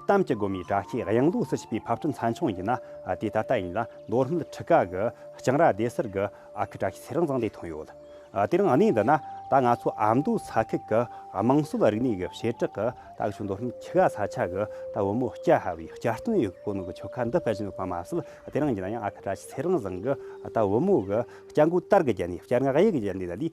གཏམ་གྱི་སྒོ་མའི་དྲ་ཤེས་གཡང་ལོ་སུ་བྱས་པའི་ཕབ་སྐྲུན་ཚན་ཆུང་ཡིན་ན་དེ་ད་ལྟ་ཡིན་ལ་མདོ་སྨད་ཁྲི་ཀ་གི་སྤྱང་ར་སྡེ་གསར་གྱི་ཨ་ཁུ་དྲ་ཤེས་ཚེ་རིང་བཟང་ལས་ཐོན་ཡོད། དེ་རིང་གནས་འདི་ན་ད་ང་ཚོ་ཨ་མདོའི་ས་ཁུལ་གྱི་དམངས་སྲོལ་རིག་གནས་ཀྱི་བྱེ་བྲག་གི་ད་ཆུ་མདོ་སྨད་ཁྲི་ཀ་ས་ཆ་གི་ད་བུ་མོ་སྐྱ་ཧ་བའི་བསྐྱར་བཏོན་ཡོད་ཀྱི་གོ་ནོར་གྱི་ཆོ་ག་འདི་སྤེལ་བཞིན་ཡོད་པ་མ་ཟད་དེ་རིང་ཡིན་ན་ཡང་ཨ་ཁུ་དྲ་ཤེས་ཚེ་རིང་བཟང་གི་ད་བུ་མོ་གི་སྐྱ་མགོའི་དར་གྱི་རྒྱན་ནས་བསྐྱར་སྔགས་ཡིག་གི་རྒྱན་ལས་ལ་ལས་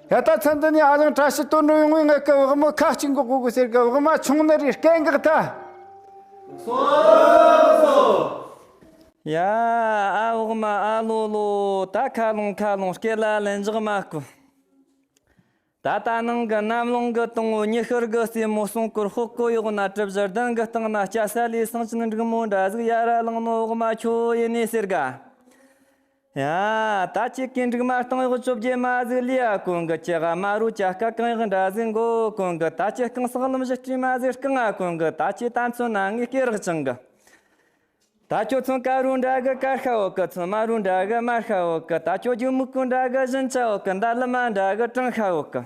ད་ལྟ་ཚན་འདི་ནི་ཧ་ལམ་བཀྲ་ཤིས་དོན་གྲུབ་ཡོང་བའི་སྔགས་ཀྱི་བག་མ་ཁ་ཅིག་འགོག་དགོས་ཟེར་གི་བག་མ་ཆུང་ནི་རེད་སྐད་འགག་ད། སོང་སོང། ཡ། ཨ་བག་མ་ཨ་ལོ་ལོ། ད་ཁ་ལོང་ཁ་ལོང་སྐད་ལ་ལན་རྒྱག་མ་དཀོན། ད་ལྟ་ནང་གི་གནམ་རླུང་གི་སྟེང་འོད་ཉི་ཤར་གི་རྩེ་མོ་སྲུང་སྐོར་ཧོ་སྐོར་གཡོག་ན་གྲིབ་བཞི་གདན་གྱི་སྟེང་ན་སྐྱ་སེར་ལས་ཟངས་ཅན་འབྲུག་མོ་འདྲ་གཟུགས་ཡ་ར་གླིང་ནོར་བག་མ་ཁྱོད་ཡིན་ནི་ཟེར་གི། ད་ཅི་ཀའི་འབྲུག་མ་རྟིང་གཡོག་བཅོ་བརྒྱད་མ་གཟིགས་ལི་ཡ་གོང་གི་ཀྱི་ཧ་མ་རུ་ཀྱ་ཀ་གང་གཡོག་འདྲ་གཟིགས་མགོ་གོང་གི་ད་ཅི་རྐང་སག་ལམ་བཞི་སྤྲུལ་མ་གཟིགས་རྐང་ང་གོང་གི་ད་ཅི་ད་མཚོན་ན་ངའི་སྐེ་རག་ཅང་གི་ད་ཀྱོ་མཚོན་ཀ་རུ་འདྲ་གི་ཀར་ཤ་འོག་གི་མཚོན་མ་རུ་འདྲ་གི་མར་ཤ་འོག་གི་ད་ཀྱོ་རྒྱུ་མུག་གུ་འདྲ་གི་བཞིན་ཅ་འོག་གི་འདར་ལི་མ་འདྲ་གི་ཀྲང་ཤ་འོག་གི།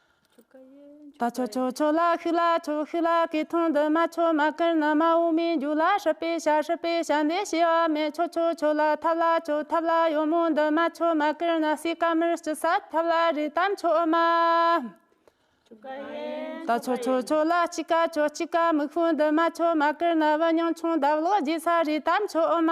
ལ་ཆོ་ཆོ་ཆོ་ལ་ཤི་ལ་ཆོ་ཤི་ལ་ཀི་ཐང་འདི་མ་ཆོ་མ་ཀིར་ནི་མ་འོ་མའི་འཇུ་ལ་ཧྲི་པི་ཤ་ཧྲི་པི་ཤ་འདི་ཤི་བ་མེད་ཆོ་ཆོ་ཆོ་ལ་ཐབ་ལ་ཆོ་ཐབ་ལ་ཡོ་མོ་འདི་མ་ཆོ་མ་ཀིར་ནི་སི་ཀ་མིར་སྐྱི་ས་ཐབ་ལ་རི་དམ་ཆོ་མ། ལ་ཆོ་ཆོ་ཆོ་ལ་སྐྱི་ཀ་ཆོ་སྐྱི་ཀ་མིག་ཧྥུ་འདི་མ་ཆོ་མ་ཀིར་ནི་བི་ཉང་ཆུང་འདབ་ལོག་སྒྱི་ས་རི་དམ་ཆོ་མ།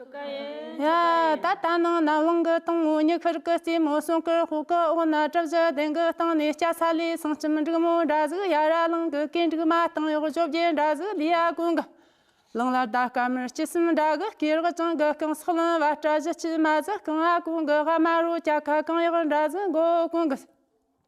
ད་ལྟ་ནང་ན་དབང་གི་སྟེང་ངོ་ཉི་ཤུར་གྱི་རྩེ་མོ་གསུང་གི་ཧཱུྃ་གི་འོག་ན་བྲག་བཞི་གདན་གྱི་སྟེང་ནས་སྐྱ་ས་ལས་གསང་སྐྱེམས་འབྲུག་མོ་འདྲ་གཟུགས་ཡར་ར་གླིང་གི་གད་འབྲུག་མ་སྟེང་གཡོག་བཅོ་བརྒྱད་འདྲ་གཟུགས་ལི་ཡ་དགོན་གྱི་གླིང་ལ་ཟླ་སྐར་མར་སྐྱི་སེམས་འདྲ་གི་སྐེ་རགས་བཅིངས་གྱི་རྐང་སོགས་ལོན་བ་བཀྲ་བཞི་སྐྱིལ་མ་གཟིགས་རྐང་ཨ་དགོན་གྱི་ཧ་མ་རུ་སྐྱ་ཁ་རྐང་གཡག་འདྲ་གཟུགས་མགོ་བོ་གོང་གི་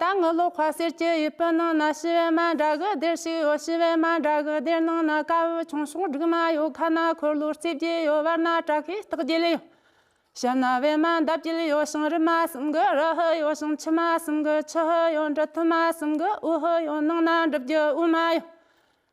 ད་ངུ་ལོ་ཁ་ཟེར་གྱི་ཡུལ་སྤུན་ནང་ན་ཤི་བའི་མ་འདྲ་གི་སྡེར་ཞིག་ཡོད་ཤི་བའི་མ་འདྲ་གི་སྡེར་ནང་ན་དཀར་བོའི་ཆུང་ཆུང་སྦྲུག་མ་ཡོད་ཁ་ན་འཁོར་ལོ་རྩིབས་བརྒྱད་ཡོད་བར་ན་བྲག་གི་སྟག་རྒྱལ་ཡོད། ཞབས་ན་བའི་མ་འདབ་བརྒྱད་ཡོད་ཞིང་རི་མ་གསུམ་གི་རི་ཧི་ཡོད་ཞིང་ཆུ་མ་གསུམ་གི་ཆུ་ཧི་ཡོད་འབྲི་ཐུལ་མ་གསུམ་གི་འུ་ཧི་ཡོད་ནང་ན་འབྲི་བརྒྱུད་དབུས་མ་ཡོད།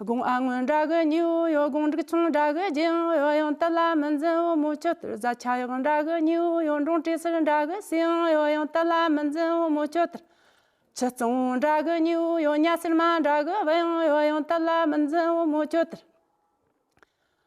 དགོངས་ཨ་སྔོན་དགྲ་གི་སྙིང་བོ་ཡོད་དགོངས་འབྲུག་ཆུང་དགྲ་གི་རྒྱལ་ཡོངས་ཡོད་ཡང་དལ་ལ་མི་འཛིན་བུ་མོ་ཁྱོད་ལྟར་བཟའ་ཆ་ཡག་དགྲ་གི་སྙིང་བོ་ཡོད་འབྲོང་བྲེ་སེར་དགྲ་གི་སྲས་ཡང་ཡོད་ཡང་དལ་ལ་མི་འཛིན་བུ་མོ་ཁྱོད་ལྟར་ཆུ་གཙང་དགྲ་གི་སྙིང་བོ་ཡོད་གཉའ་སེར་མ་དགྲ་གི་བུ་ཡང་ཡོད་ཡང་དལ་ལ་མི་འཛིན་བུ་མོ་ཁྱོད་ལྟར།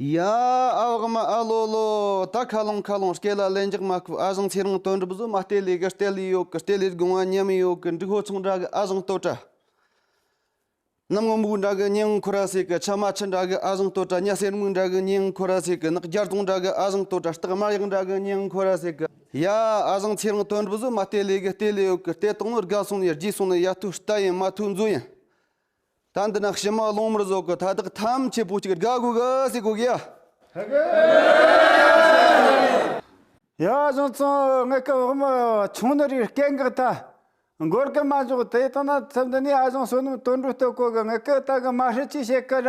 ཡ། ཨ་འོག་མ་ཨ་ལོ་ལོ། ད་ཁ་ལོང་ཁ་ལོང་སྐད་ལ་ལན་རྒྱག་མ་ཁུ་ཨ་བཟང་ཚེ་རིང་དོན་གྲུབ་བཟོ་མ་ལྟེ་ལས་གི་ལྟེ་ལས་ཡོག་གི་ལྟེ་ལས་དགུང་བ་མཉམ་ཡོག་གི་འབྲུག་ཧོ་ཚང་འདྲ་གི་ཨ་བཟང་སྟོད་གྲ། གནམ་སྔོ་སྨུག་འདྲ་གི་སྙིང་ཁུ་ར་ཚེ་གི་ཆ་མ་ཆི་འདྲ་གི་ཨ་བཟང་སྟོད་གྲ་གཉའ་སེར་སྨུག་འདྲ་གི་སྙིང་ཁུ་ར་ཚེ་གི་ནག་སྒྱར་དུང་འདྲ་གི་ཨ་བཟང་སྟོད་གྲ་སྟག་དམར་ཡག་འདྲ་གི་སྙིང་ཁུ་ར་ཚེ་གི། ཡ། ཨ་བཟང་ཚེ་རིང་དོན་གྲུབ་བཟོ་མ་ལྟེ་ལས་གི་ལྟེ་ལས་ཡོག་གི་ལྟེ་སྟག་ནོར་དགའ་སོང་ནས་རྗེས་སོང་ནས་ཡ་ཐུག་རྟ་ཡིན་མ་ཐུག་མཛོ་ཡིན། ད་འདི་ན་ཕྱི་མ་ལོང་མར་བཟོ་གི་ཐ་དག་ཐམས་ཅད་པོ་གཅིག་དགའ་དགོས་གི་སེ་དགོས་གི་ཡ། ཡ་གཞུང་བཙོང་དངུལ་སྐབས་དབུ་མ་ཆུང་ནི་རིགས་སྐད་འགག་ཐ། འགོར་གི་མ་འཇོག་དེ་ལྟ་ན་ཚེ་འདི་ནས་ཨ་གཞུང་བསོད་ནམས་དོན་འགྲུབ་ལྟོས་གོ་གི་དངུལ་སྐད་ལྟ་གི་མ་ཧྲི་ཅི་བྱེད་གི་ར།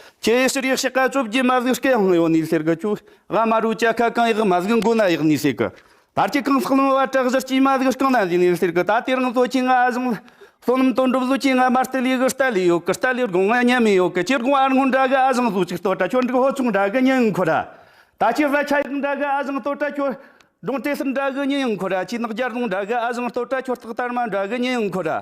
ཁྱེད་ཕྱིར་ཡག་ཤག་ག་བཅོ་བརྒྱད་མ་གཟིགས་སྐད་ཧང་ཡོ་ནས་ཟེར་གི་ཁྱོད་ཨ་མ་རུ་ཅག་ག་གང་ཡག་མ་གཟིགས་མགོ་ན་ཡག་ནས་ཟེར་གི་ཕར་ཁྱེད་གང་ཟག་ལོང་བ་བྲག་གཞིར་སྐྱེས་མ་གཟིགས་རྐང་ན་འཛེགས་ནས་ཟེར་གི་ད་ལྟའི་རང་བཟོ་ཁྱེད་ང་ཨ་བཟང་ལ་བསོད་ནམས་དོན་འགྲུབ་བཟོ་ཁྱེད་ང་མར་སྟེ་ལས་གི་སྟ་ལས་ཡོད་གི་སྟ་ལས་སྒོང་ང་ཉན་མི་ཡོད་གི་ཁྱེད་སྒོང་ཨར་སྔོན་འདྲ་གི་ཨ་བཟང་བཟོ་ཅིག་ལྟོས་དྲ་ཁྱོད་འགྲིག་ཧོ་ཆུང་འདྲ་གི་ཉིན་འཁོར་ར་ད་ཁྱེད་བཟའ་ཆ་ཡག་འདྲ་གི་ཨ་བཟང་ལྟོས་དྲ་ཁྱོད་སྒྲུང་དེ་སིར་འདྲ་གི་ཉིན་འཁོར་ར་ཁྱེད་ནག་རྒྱར་རྫོང་འདྲ་གི་ཨ་བཟང་ལྟོས་དྲ་ཁྱོད་རྟག་དར་མ་འདྲ་གི་ཉིན་འཁོར་ར།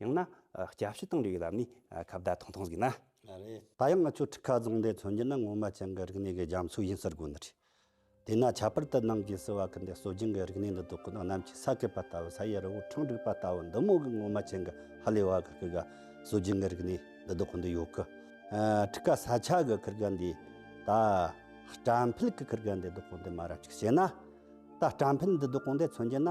ཡང་ན་སྐྱབས་ཞུ་གཏང་འདོད་ཡོད་ལབ་ནས་ཁ་བརྡ་ཐང་ཐང་ཟིག་ན། ད་ཡང་ང་ཚོས་ཁྲི་ཁ་རྫོང་འདི་མཚོན་རྒྱུ་ན་ངོ་མ་ཅན་གི་རིག་གནས་ཀྱི་རྒྱ་མཚོ་ཡིན་ཟེར་དགོས་ནི་རེད། དེས་ན་ཁྱད་པར་དུ་ནང་གི་སི་བ་ཁུལ་འདི་གསོ་སྦྱིན་གྱི་རིག་གནས་འདི་དོ་ཀུ་ནག་གནམ་གྱི་ས་བརྐོས་པ་ལྟ་བུ་ས་ཡི་རི་བོ་འཕྲང་བསྒྲིགས་པ་ལྟ་བུ་འདི་མོ་གི་ངོ་མ་ཅན་གི་ཧ་ལས་བ་གི་ཁུལ་ག་གསོ་སྦྱིན་གྱི་རིག་གནས་འདི་དོ་ཀུ་འདི་ཡོད་གི། ཁྲི་ཁ་ས་ཆ་གི་ཁུལ་ག་འདི་ད་སྐྲ་འཕེལ་གི་ཁུལ་ག་འདི་དོ་ཀུ་འདི་མ་ར་ཅིག་བྱས་ན། ད་སྐྲ་འཕེལ་འདི་དོ་ཀུ་འདི་མཚོན་རྒྱུ་ན།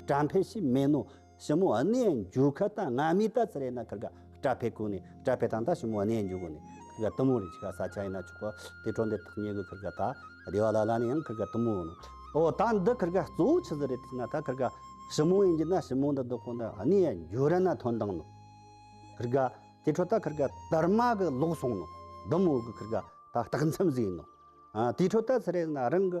སྐྲ་འཕེལ་ཞིག་སྨན་ནོ། ཞི་མོ་གནས་འགྱུར་ཁ་ལྟ་ང་མི་ལྟ་ཚེ་རེ་ན་ཁར་ག་སྐྲ་འཕེལ་ཁུག་ནས་སྐྲ་འཕེལ་དང་ད་ཞི་མོ་གནས་འགྱུར་གོ་ནས་ཁར་ག་གཏུམ་མོ་རེ་ཆི་ག་ས་ཆ་ཡིན་ན་ཆོག་གོ་དེ་ཁྲོ་འདི་ཐག་ཉེ་གི་ཁར་ག་ད་བདེ་བ་ལ་ལ་ནས་ཡང་ཁར་ག་གཏུམ་མོ་ནོ། ཨོ་ད་འདི་ཁར་ག་གཙོ་བོ་ཆི་ཟི་རེ་ཐིག་ན་ད་ཁར་ག་ཞི་མོ་ཡིན་གྱི་ན་ཞི་མོ་འདི་བདུག་གོ་ད་གནས་འགྱུར་རེ་ན་ཐོན་དང་ནོ། ཁར་ག་དེ་ཁྲོ་ད་ཁར་ག་དར་མ་གི་ལོག་སོང་ནོ། ལྡུམ་འོག་གི་ཁར་ག་ད་སྟག་མཚམས་གཟིགས་ནོ། དེ་ཁྲོ་ད་ཚེ་རེ་ན་རང་གི།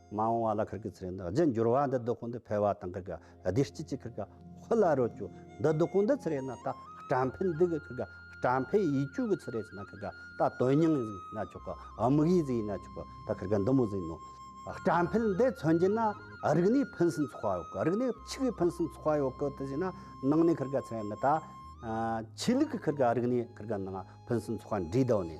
མ་འོང་བ་ལ་ཁིར་གི་ཚེ་རིང་དང་རྗེས་འགྱུར་བ་འདི་སྡུག་ཁུངས་འདི་འཕེལ་བ་དང་ཁིར་གི་སྡེ་སྤྱི་གཅིག་ཁིར་གི་ཧུ་ལ་རོ་ཅུ་འདི་སྡུག་ཁུངས་འདི་ཚེ་རེས་ན་ད་སྐྲ་འཕེལ་འདི་གི་ཁིར་གི་སྐྲ་འཕེལ་ཡིད་ཅུག་གི་ཚེ་རེས་ན་ཁིར་གི་ད་དོན་སྙིང་ཡིན་ན་ཆོག་གི་དམིགས་ཡིད་ཟིན་ཡིན་ན་ཆོག་གི་ད་ཁིར་གི་འདི་མོ་ཟིན་ནོ། སྐྲ་འཕེལ་འདི་མཚོན་གྱི་ན་རིག་ནས་ཕུན་སུམ་ཚོགས་པ་ཡོད་གི་རིག་ནས་ཕྱུགས་ཡིས་ཕུན་སུམ་ཚོགས་པ་ཡོད་གི་དེ་བཞིན་ན་ནང་ནས་ཁིར་གི་ཚེ་རེས་ན་ད་ཆོས་ལུགས་ཀྱི་ཁིར་གི་རིག་ནས་ཁིར་གི་ནང་ཕུན་སུམ་ཚོགས་པ་འདྲིས་ལྡོག་ནས།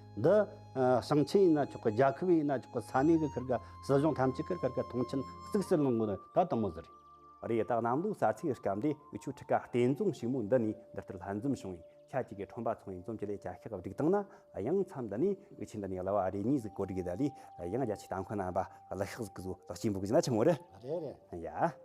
འདི། ཞིང་ཆེན་ཡིན་ན་ཆོག་གི་རྒྱལ་ཁབ་ཡིན་ན་ཆོག་གི་ས་གནས་ཀྱི་ཁུར་ག་སྲིད་གཞུང་ཐམས་ཅད་ཀྱི་ཁུར་ག་མཐོང་ཆེན་གཙིགས་སུ་ལོངས་དགོས་ནི་ད་དུང་མོ་ཟེར། རེ་དྭགས་གནམ་ལོའི་གསར་ཚེས་སྐབས་འདི་དབུས་ཆོས་ཁྲི་ཀ་བསྟན་རྫོང་ཞིང་མོ་འདི་ནས་འདི་ལྟར་ལྷན་འཛོམས་བྱུང་བས་ཁྱེད་ཀྱིས་གི་ཁྲོམ་པ་ཚོང་ཡིན་འཛོམས་ཀྱི་ལས་བྱ་ཤག་བསྒྲིགས་སྟངས་ན་ཡང་མཚམས་འདི་ནས་དབུས་ཆེན་འདི་ནས་གླ་བ་རེ་གཉིས་གཟིགས་གོ་སྒྲིག་གི་ད་ལས་ཡང་རྒྱ་ཆེའི་ཏང་ཁོ་ན་པ་གླུ་ཤག་གཟིགས་གཟོ་ལག་ཆེན་པོ་གི་ན་ཆུང་བོ་རེ། རེད་རེད། ཡ།